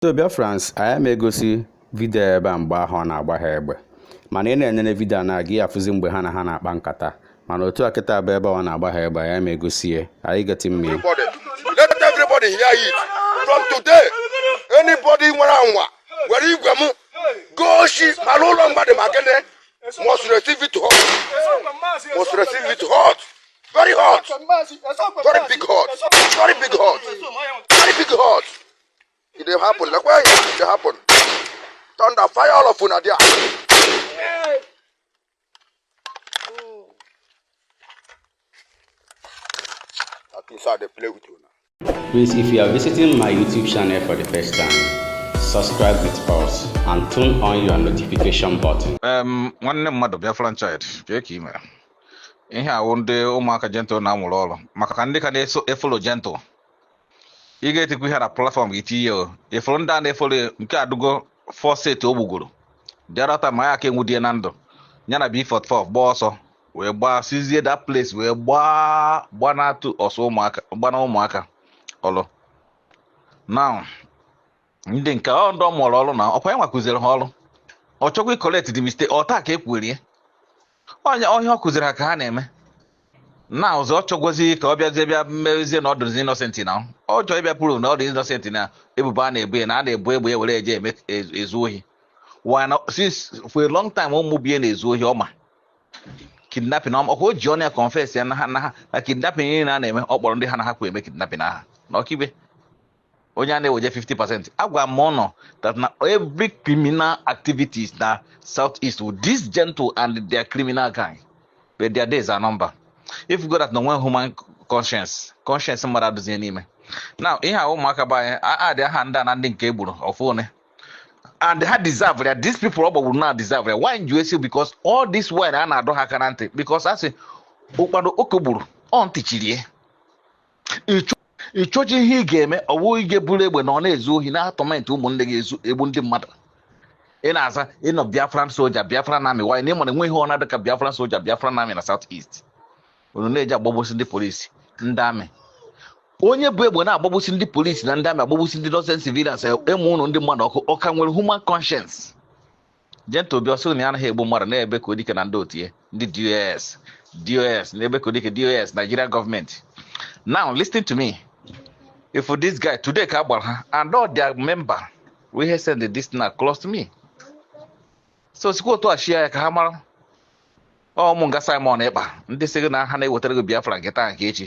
so Biafrans anyị ama egosi vidio ebe a mgbe ahụ ọ na-agba ha egbe mana ị na-enene vidio a na-aga ị ya-afụzi mgbe ha na ha na-akpa nkata mana otu a kịta bụ ebe ọ na-agba ha egbe anyị ama egosi ya anyị ga-eti mmiri everybody. Let everybody hear it. From today, anybody nwere anwa were igwe m goo shi ma n'ụlọ mmadụ ma gịnị must receive it hot. Must receive it hot. Very hot. Very big hot. Very big hot. Very big hot. It dey happen. Look why it dey happen. Thunder, fire all of una there. That thing sir dey play with una. Please, if you are visiting my YouTube channel for the first time, subscribe with us and turn on your notification button. Em, nwanne mmadụ Biafran child kee ka ị mere ihe a wụ ndị ụmụaka gentle na-amụrụ ọrụ maka ka ndị ka na-eso efolo gentle ị ga-etikwa ihe na platform gị tinye o ị fụrụ ndị a na-efere nke adugo first o gbugoro jarọta ma ya ka e nwudie na ndụ ya na b44 gbaa ọsọ wee bịa sizie that place wee gbaa gbanatụ ọsọ ụmụaka gbana ụmụaka ọlụ now ndị nke ọ ndị ọ mụrụ ọrụ na ọkwa ya nwa kụziri ha ọrụ ọ chọkwa ị-correct the mistake otu a ka e kwurie ọ ihe ọ kụziri ha ka ha na-eme na ọzọ ọ chọgazi ka ọ bịazie bịa mezie na ọ dụzi innocent na ọ chọọ ịbịa prove na ọ dị innocent na ebubo a na-ebo ya na a na-ebu egbe ya were eje eme e- ezu ohi wana since for a long time ụmụ bie na-ezu ohi ọ ma kidnapping ọma ọkwa o ji ọnụ ya confess ya na ha na ha na kidnapping niile a na-eme ọ kpọrọ ndị ha na ha kwu eme kidnapping aha na Okigwe onye a na-eweje 50 percent agwa m ụnụ that na every criminal activities na south east with this gentle and their criminal gang but their days are number ị fụgo that na o nwe human conscience conscience mmadụ adụzie n'ime now ihe a ụmụaka bụ anyị adị aha ndị a na ndị nke e gburu ọfụ one and ha deserve ya these people ọ gbagburu na deserve ya why m ji si because all this while a na-adọ ha aka na ntị because a sị ụkpana oke gburu ọ ntị chiri ị chọji ihe ị ga-eme ọ bụghị ị ga-eburu egbe na ọ na-ezu ohi na-atọmentị ụmụnne gị ezu egbu ndị mmadụ ị na-aza ịnọ biafran soja biafran amị wanyị na ị ma na enweghị ọna dịka biafran soja biafran amị na south east unu na-eje agbagbusi ndị polisi ndị amị onye bu egbe na-agbagbusi ndị polisi na ndị amị agbagbusi ndị innocent civilians amụnye ndị mmadụ ọkụ ọ ka nwere human conscience Gentle Obi ọ sịrị na ya anaghị egbu mmadụ na-ebe ka odike na ndị otu ya ndị DOS DOS na-ebe ka odike DOS Nigeria government now listen to me if this guy today ka a gbara ha and all their member we have send this thing across to me so sikwa otu a share ya ka ha mara ọ ụmụ nga Simon Ekpa ndị sị gị na ha na-ewetara gị Biafra nke taa nke echi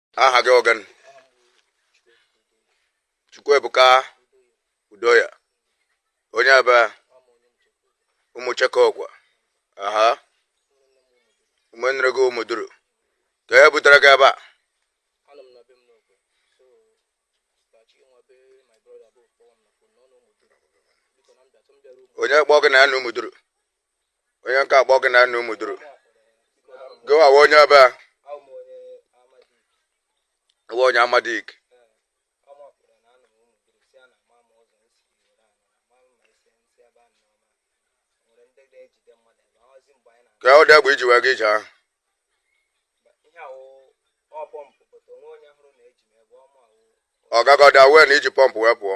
aha gị ọ gịnị Chukwuebuka Udoya onye ebee Ụmụcheke Okwe aha ụmụnne gị Ụmụduru ka e butere gị ebe a onye kpọọ gị na ya na Ụmụduru onye nke a kpọ gị na nna Ụmụduru gịwa wụ onye ebee awụ onye amadik kedụ egbe i ji wee gaa ije ahụ ọgagọda wee na i ji pọmpụ wee pụọ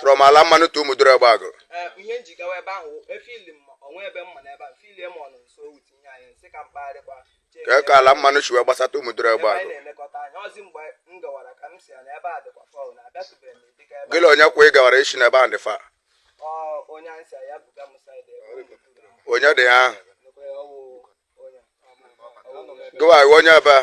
from ala mmanụ to Ụmụduru Egbe ihe m ji gawa ebe ahụ efili m onwe ebe mma n'ebe a filie m ọnụ nso wuti ihe anyị nsị ka m kpagharịkwa ka ka ala mmanụ si wee gbasata Ụmụduru Egbeagụ gị la onye kwa ị gawara isi n'ebe ahụ dị fa onye dị ha gịwa wụ onye ebee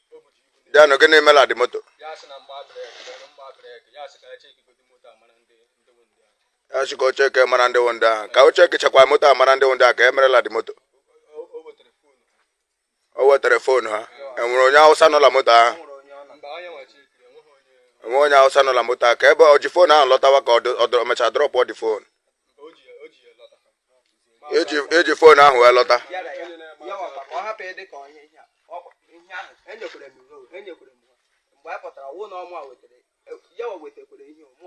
ya na gịnị mere ndị moto ya sị ka o checkie mara ndị wụ ndị ahụ ka o checkichakwa moto a mara ndị wụ ndị ahụ ka e merela ndị moto o wetara foonu ha e nwere onye Awụsa nọ na moto ahụ enwe onye Awụsa nọ na moto ahụ ka ebe ọ ji foonu ahụ lọtawa ka ọ dị- ọ dọrọ- ọ mechaa drọpụ ọ dị foonu i ji fon ahụ wee lọta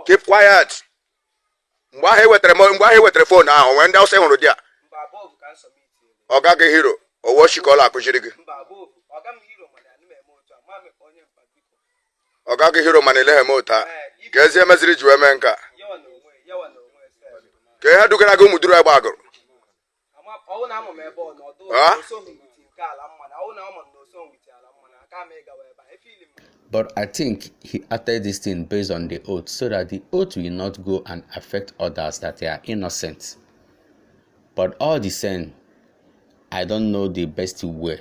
keep quiet mgbe ahụ i wetara mgbe ahụ i wetara fon ahụ nwee ndị Awụsa ị hụrụ there ọga gị Hero ọ wụ oshi ka ọ la-akụziri gị ọga gị Hero mana olee ihe ị mụta ka ezi emeziri ji wee mee nke a ka ihe dugara gị Ụmụduru Egbeagụrụ But I think he added this thing based on the oath so that the oath will not go and affect others that they are innocent. But all the same, I don't know the best way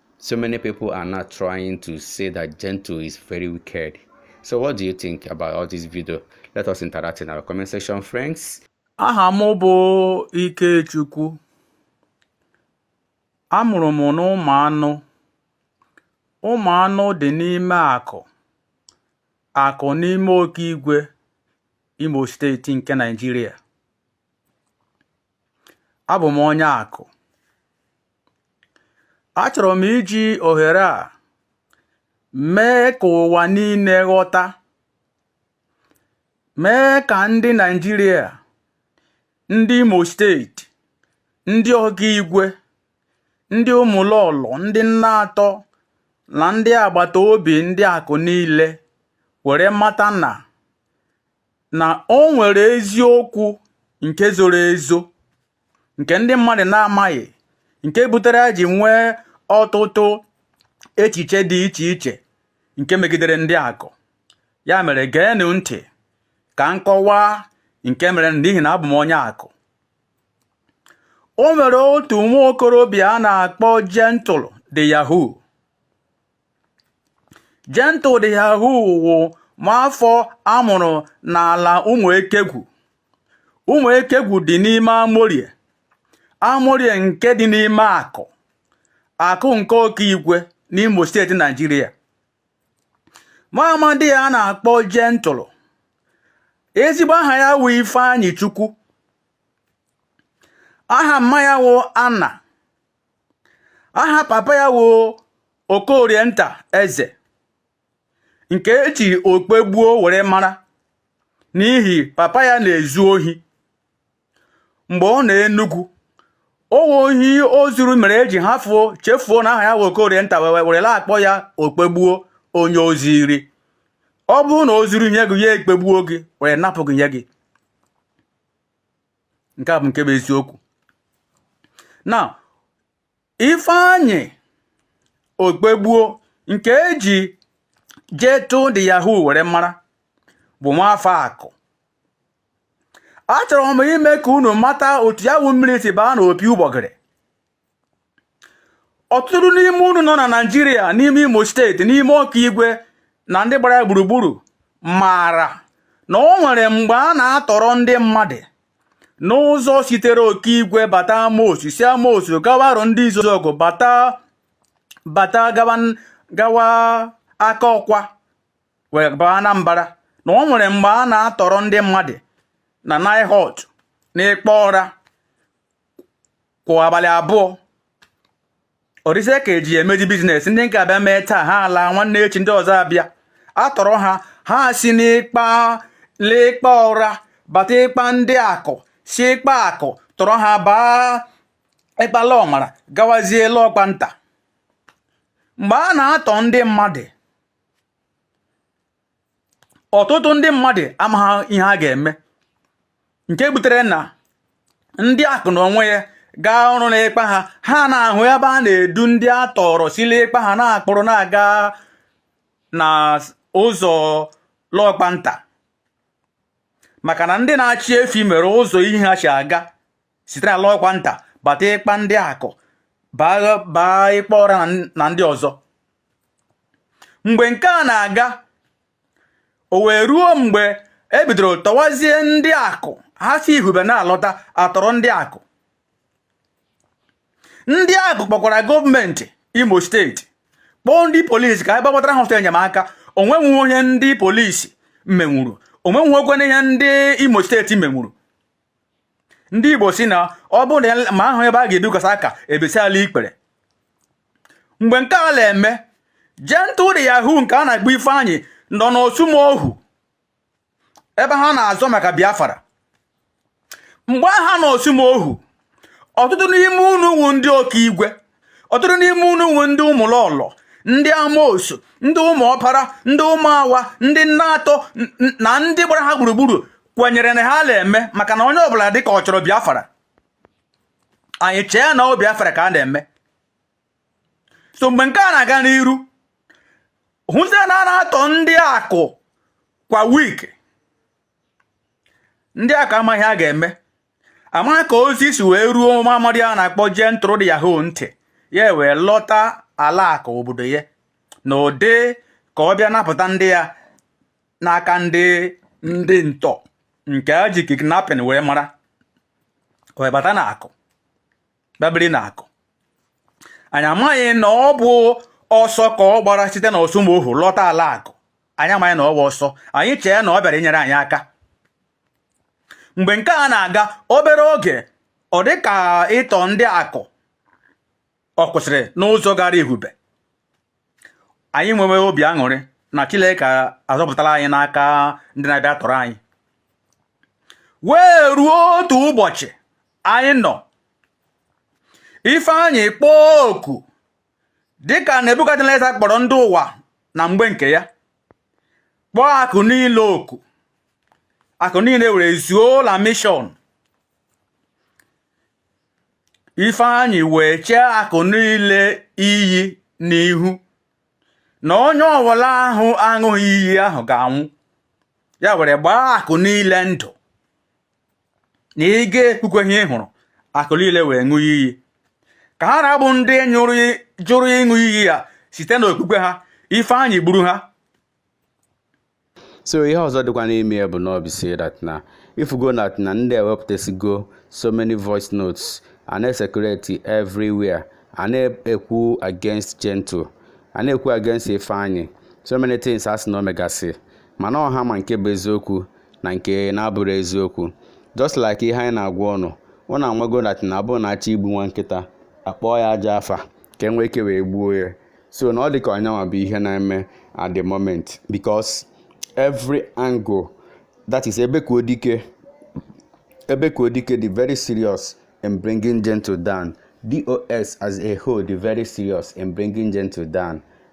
So many people are now trying to say that Gentle is very wicked. So what do you think about all this video? Let us interact in our comment section, friends. Aha m bụ Ikechukwu. A mụrụ m n'Ụmụanụ. Ụmụanụ dị n'ime Akụ. Akụ n'ime Okigwe Imo steeti nke Naịjirịa. Abụ m onye Akụ. achọrọ m iji ohere a mee ka ụwa niile ghọta mee ka ndị Naịjirịa ndị Imo steeti ndị Okigwe ndị Ụmụlọlọ ndị nna atọ na ndị agbata obi ndị Akụ niile were mata na na o nwere eziokwu nke zoro ezo nke ndị mmadụ na-amaghị nke butere e ji nwee ọtụtụ echiche dị iche iche nke megidere ndị Akụ ya mere geenụ ntị ka m kọwaa nke mere n'ihi na abụ m onye Akụ o nwere otu nwa okorobịa a na-akpọ Gentle de Yahoo Gentle de Yahoo wụ nwaafọ a mụrụ n'ala Ụmụekegwu. Ụmụekegwu dị n'ime Amorie. Amorie nke dị n'ime Akụ. Akụ nke Okigwe n'Imo steeti Naijiria. Nwa amadi a a na-akpọ Gentle. Ezigbo aha ya wụ Ifeanyị Chukwu. Aha mma ya wụ Anna. aha papa ya wụ Okorienta Eze nke e ji Okpegbuo were mara n'ihi papa ya na-ezu ohi mgbe ọ nọ Enugwu ọ wụ ohi o zuru mere e ji hafụ chefuo na aha ya wụ Okorienta wee were la-akpọ ya Okpegbuo onye o zuru ọ bụrụ na o zuru ihe gị ya ekpegbuo gị were napụ gị ihe gị nke a bụ nke bụ eziokwu na Ifeanyi Okpegbuo nke e ji Gentle de Yahoo were mara bụ nwaafọ Akụ achọrọ m ime ka unu mata otu ya wụ mmiri si baa n'opi ụgbọgịrị ọtụtụ n'ime unu nọ na naijiria n'ime imo steeti n'ime Okigwe na ndị gbara ya gburugburu maara na o nwere mgbe a na-atọrọ ndị mmadụ n'ụzọ sitere Okigwe bata amosu si amosu gawa Arọndịzuọgụ bata gawa Akọkwa wee baa Anambra na o nwere mgbe a na-atọrọ ndị mmadụ na NIHORT na Ịkpa Ọra kwa abalị abụọ ọ dịzie ka e ji emeji business ndị nke a abịa mee taa ha ala nwanne echi ndị ọzọ abịa atọrọ ha ha si n'ịkpa n'Ịkpa Ọra bata ịkpa ndị Akụ si ịkpa Akụ tọrọ ha baa ịkpa Lọmara gawazie Lọkpanta mgbe a na-atọrọ ndị mmadụ ọtụtụ ndị mmadụ amaghị ihe a ga-eme nke butere na ndị akụ na onwe ya gaa ọrụ n'ịkpa ha ha na-ahụ ebe a na-edu ndị a tọrọ si na ịkpa ha na-akpụrụ na-aga na ụzọ lọkpanta maka na ndị na-achị efi mere ụzọ ihe ha si aga sitere lọkpanta bata ịkpa ndị akụ baa ịkpa ọra na ndị ọzọ mgbe nke a na-aga o wee ruo mgbe e bidoro tọwazie ndị akụ ha si ihube na-alọta atọrọ ndị akụ ndị akụ kpọkwara gọọmenti imo steeti kpọọ ndị polisi ka a bịa gbatara ha ọsọ enyemaka o nweghị ihe ndị polisi menwuru o nweghịkwa ihe ndị imo steeti menwuru ndị igbo si na ọ bụrụ na ma ahụ ebe a ga-ebikwasa aka e bisia na ikpere mgbe nke a na-eme gentle de yahoo nke a na-akpọ ifeanyị nọ n'osumoghu ebe ha na-azọ maka biafra mgbe ha nọ osumoghu ọtụtụ n'ime unu wu ndị okigwe ọtụtụ n'ime unu wu ndị ụmụlọlọ ndị amosu ndị ụmụ ọpara ndị ụmụ awa ndị nna atọ na ndị gbara ha gburugburu kwenyere na ha na-eme maka na onye ọbụla dị ka ọ chọrọ biafra anyị chee na ọ biafra ka a na-eme so mgbe nke a na-aga n'iru hụzie na a na-atọ ndị akụ kwa wiki ndị akụ amaghị ihe a ga-eme amaghị ka ozi si wee ruo nwa amadi a na-akpọ gentle de yahoo ntị ya wee lọta ala akụ obodo ya n'ụdị ka ọ bịa napụta ndị ya n'aka ndị ndị ntọ nke a ji kidnapping wee mara wee bata na akụ bịa biri na akụ anyị amaghị na ọ bụ ọsọ ka ọ gbara site na osumoghu lọta ala akụ anyị amaghị na ọ bụ ọsọ anyị chee na ọ bịara inyere anyị aka mgbe nke a na-aga obere oge ọ dị ka ịtọ ndị akụ ọ kwụsịrị n'ụzọ gara ihube anyị nwewe obi aṅụrị na Chineke azọpụtala anyị n'aka ndị na-abịa atọrọ anyị wee ruo otu ụbọchị anyị nọ Ifeanyị kpọọ oku dịka nebukadneza kpọrọ ndị ụwa na mgbe nke ya kpọọ akụ niile oku akụ niile were zuo na mishọn ifeanyị wee chee akụ niile iyi n'ihu na onye ọwụla ahụ aṅụghị iyi ahụ ga-anwụ ya were gbaa akụ niile ndụ na ị ga-ekwukwe ihe ị hụrụ akụ niile wee ṅụọ iyi ka ha na-abụ ndị jụrụ ịṅụ iyi ya site n'okpukpe ha ifeanyị gburu ha so ihe ọzọ dịkwa n'ime ya bụ na ọ bụ si that na ị fụgo na na ndị ewepụtasigo so many voice notes a na-ecirculate everywhere a na-ekwu against gentle a na-ekwu against ifeanyị so many things a sị na o megasị mana ọha ma nke bụ eziokwu na nke na-abụrọ eziokwu just like ihe anyị na-agwa ụnụ ụnụ amago na na ọ bụ na a chọọ igbu nwa nkịta a kpọọ ya ajọ afa ka e nwee ike wee gbuo ya so na ọ dị ka ọ nyanwa bụ ihe na-eme at the moment because every angle that is ebe ka odike ebe ka odike dị very serious in bringing gentle down dos as a whole dị very serious in bringing gentle down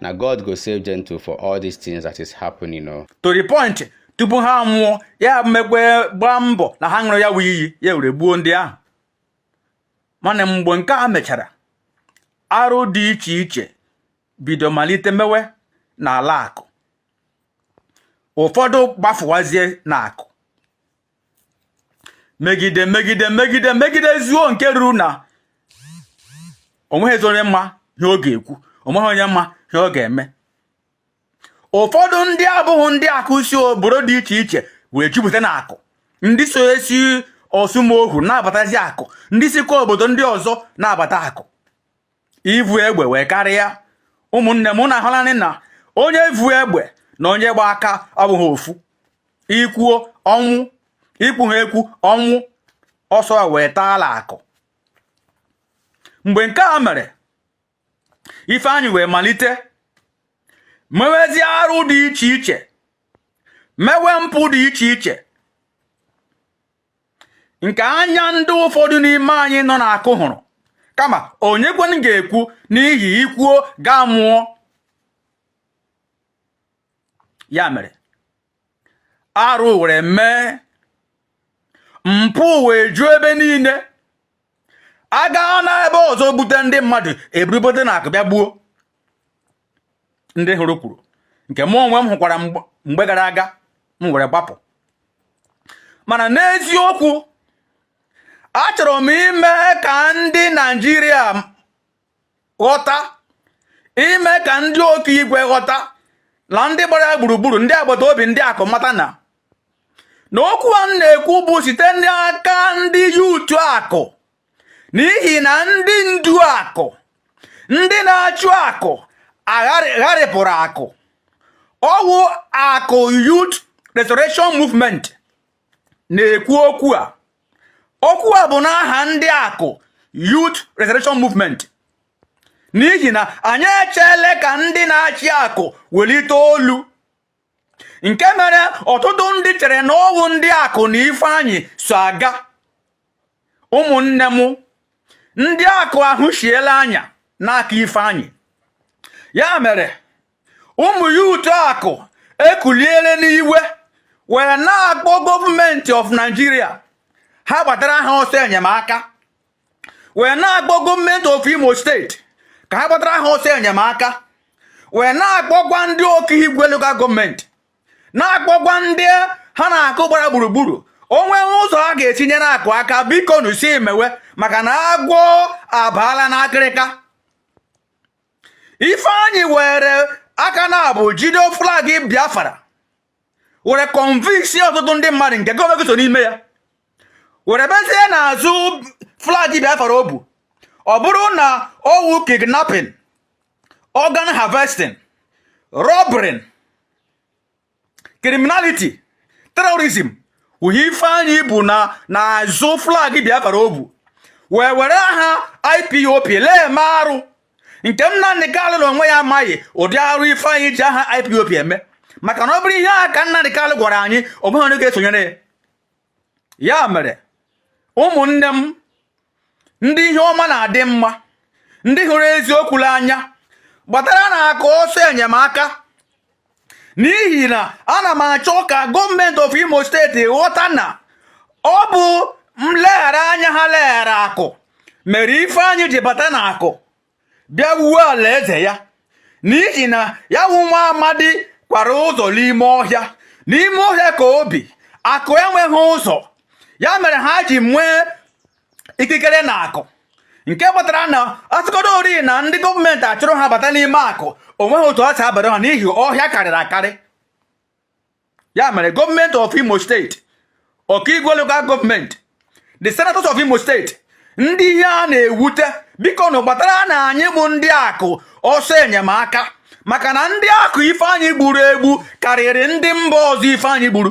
na God go save gentle for all these things that is happening o. to the point tupu ha aṅụọ ya mekwee gbaa mbọ na ha ṅụrụ ya wụ iyi ya were gbuo ndị ahụ mana mgbe nke a mechara arụ dị iche iche bido malite mewe n'ala akụ ụfọdụ gbafuwazie n'akụ megide megide megide megide zuo nke ruru na onweghịzi onye ma ihe ọ ga-ekwu onweghị onye ma ihe ọ ga-eme ụfọdụ ndị abụghị ndị akụ si obodo dị iche iche wee jupụta na akụ ndị so esi ọsụmoghu na-abatazi akụ ndị sikwa obodo ndị ọzọ na-abata akụ ivu egbe wee karịa ụmụnne m unu ahụlanị na onye vu egbe na onye gba aka ọ bụghị ofu i kwuo ọnwụ i kwuha ekwu ọnwụ ọsọ wee daa ala akụ mgbe nke a mere ifeanyị wee malite mewezie arụ dị iche iche mewe mpụ dị iche iche nke anya ndị ụfọdụ n'ime anyị nọ na akụ hụrụ kama onyekwanụ ga-ekwu n'ihi i kwuo ị ga-anwụ ọ ya mere arụ were mee mpụ wee juo ebe niile a gaa na ebe ọzọ bute ndị mmadụ e buru bute na akụ bịa gbuo ndị hụrụ kwuru nke mụ onwe m hụkwara mgbe gara aga m were gbapụ mana n'eziokwu achọrọ m ime ka ndị Naijiria ghọta ime ka ndị okigwe ghọta na ndị gbara ya gburugburu ndị agbata obi ndị akụ mata na na okwu a na-ekwu bụ site n'aka ndị youth akụ n'ihi na ndị ndu akụ ndị na-achị akụ gharịpụrụ akụ ọ wụ akụ youth restoration movement na-ekwu okwu a okwu a bụ n'aha ndị akụ youth restoration movement n'ihi na anyị echeele ka ndị na-achị akụ welite olu nke mere ọtụtụ ndị chere na ọ wụ ndị akụ na ifeanyị so aga ụmụnne m ndị akụ ahụshiela anya n'aka ifeanyị ya mere ụmụ youth akụ ekuliele n'iwe wee na-akpọ gọọmenti of Nigeria ha gbatara ha ọsọ enyemaka wee na-akpọ gọọmenti of Imo steeti ka ha gbatara ha ọsọ enyemaka wee na-akpọkwa ndị okigwe local gọọmenti na-akpọkwa ndị ha na akụ gbara gburugburu o nwee ụzọ a ga-esi nyere akụ aka bikonụ si mewe maka na agwọ abaala n'akịrịka ifeanyị were aka naabọ jide flag biafra were convince ọtụtụ ndị mmadụ nke gọọmenti so n'ime ya were bezie n'azụ flag biafra o bu ọ bụrụ na ọ wụ kidnapping organ harvesting robbery criminality terrorism wụ ihe ifeanyị bu n'azụ flag biafra o bu wee were aha IPOB lee eme arụ nke m Nnamdị Kalụ n'onwe ya amaghị ụdị arụ Ifeanyị ji aha IPOB eme maka na ọ bụrụ ihe a ka Nnamdị Kalụ gwara anyị o nweghị onye ga-esonyere ya ya mere ụmụnne m ndị ihe ọma na-adị mma ndị hụrụ eziokwu n'anya gbataranụ akụ ọsọ enyemaka n'ihi na ana m achọ ka gọọmenti of imo steeti ghọta na ọ bụ mleghara anya ha leghara akụ mere ifeanyị ji bata na akụ bịa wuo alaeze ya n'ihi na ya wụ nwa amadi kwara ụzọ n'ime ọhịa n'ime ọhịa ka o bi akụ enweghị ụzọ ya mere ha ji nwee ikikere na akụ nke kpatara na ọtụkọrọ ori na ndị gọọmenti achụrụ ha bata n'ime akụ o nweghị otu ọ si abara ha n'ihi ọhịa karịrị akarị ya mere gọọmenti of imo steeti okigwe local gọọmenti the senators of imo steeti ndị ihe a na-ewute bikonụ gbataranụ anyị bụ ndị akụ ọsọ enyemaka maka na ndị akụ ifeanyị gburu egbu karịrị ndị mba ọzọ ifeanyị gburu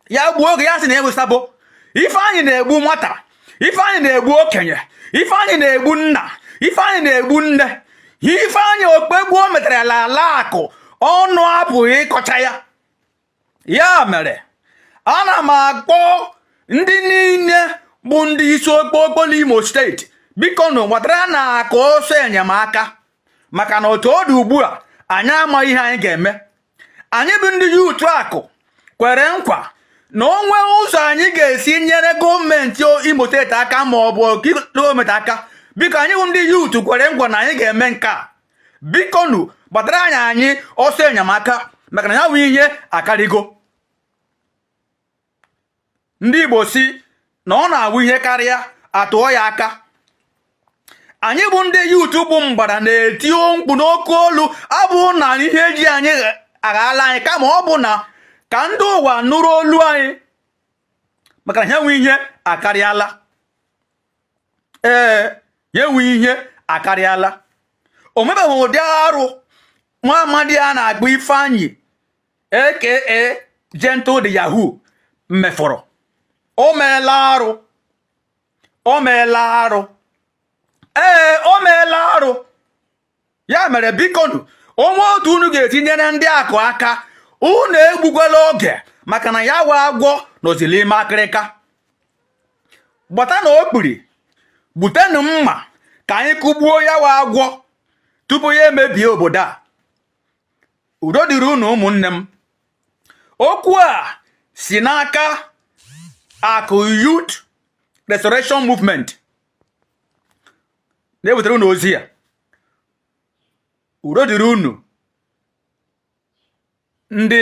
ya gbuo gị ya sị na ị wụ sabo ifeanyị na-egbu nwata ifeanyị na-egbu okenye ifeanyị na-egbu nna ifeanyị na-egbu nne ifeanyị mkpagbu o metara n'ala akụ ọnụ apụghị ịkọcha ya ya mere ana m akpọ ndị niile bụ ndị isi okpokpo n'imo steeti bikonu gbataranụ akụ ọsọ enyemaka maka na otu ọ dị ugbu a anyị amaghị ihe anyị ga-eme anyị bụ ndị yut akụ kwere nkwa na o nwee ụzọ anyị ga-esi nyere gọọmenti Imo steeti aka ma ọ bụ gọọmenti aka biko anyị bụ ndị yut kwere nkwa na anyị ga-eme nke a bikonu gbatara anyị anyị ọsọ enyemaka maka na ya bụ ihe akarịgo ndị Igbo si na ọ na-awụ ihe karịa a tụọ ya aka anyị bụ ndị yut bụ mgbada na-eti mkpu n'oke olu abụghị na ihe ji anyị aghala anyị kama ọ bụ na ka ndị ụwa nụrụ olu anyị maka na ya wụ ihe akarịala ee ya wụ ihe akarịala o nwebeghị ụdị arụ nwa amadi a na-akpọ ifeanyị aka gentle the yahoo mefọrọ o meela arụ o meela arụ ee o meela arụ ya mere bikonu o nwee otu unu ga-esi nyere ndị akụ aka unu egbukwala oge maka na ya wụ agwọ nọzi n'ime akịrịka gbatanụ okpiri butenụ mma ka anyị kụgbuo ya wụ agwọ tupu ya emebie obodo a udo dịrị unu ụmụnne m okwu a si n'aka akụ youth restoration movement na-ewetara unu ozi a udo dịrị unu ndị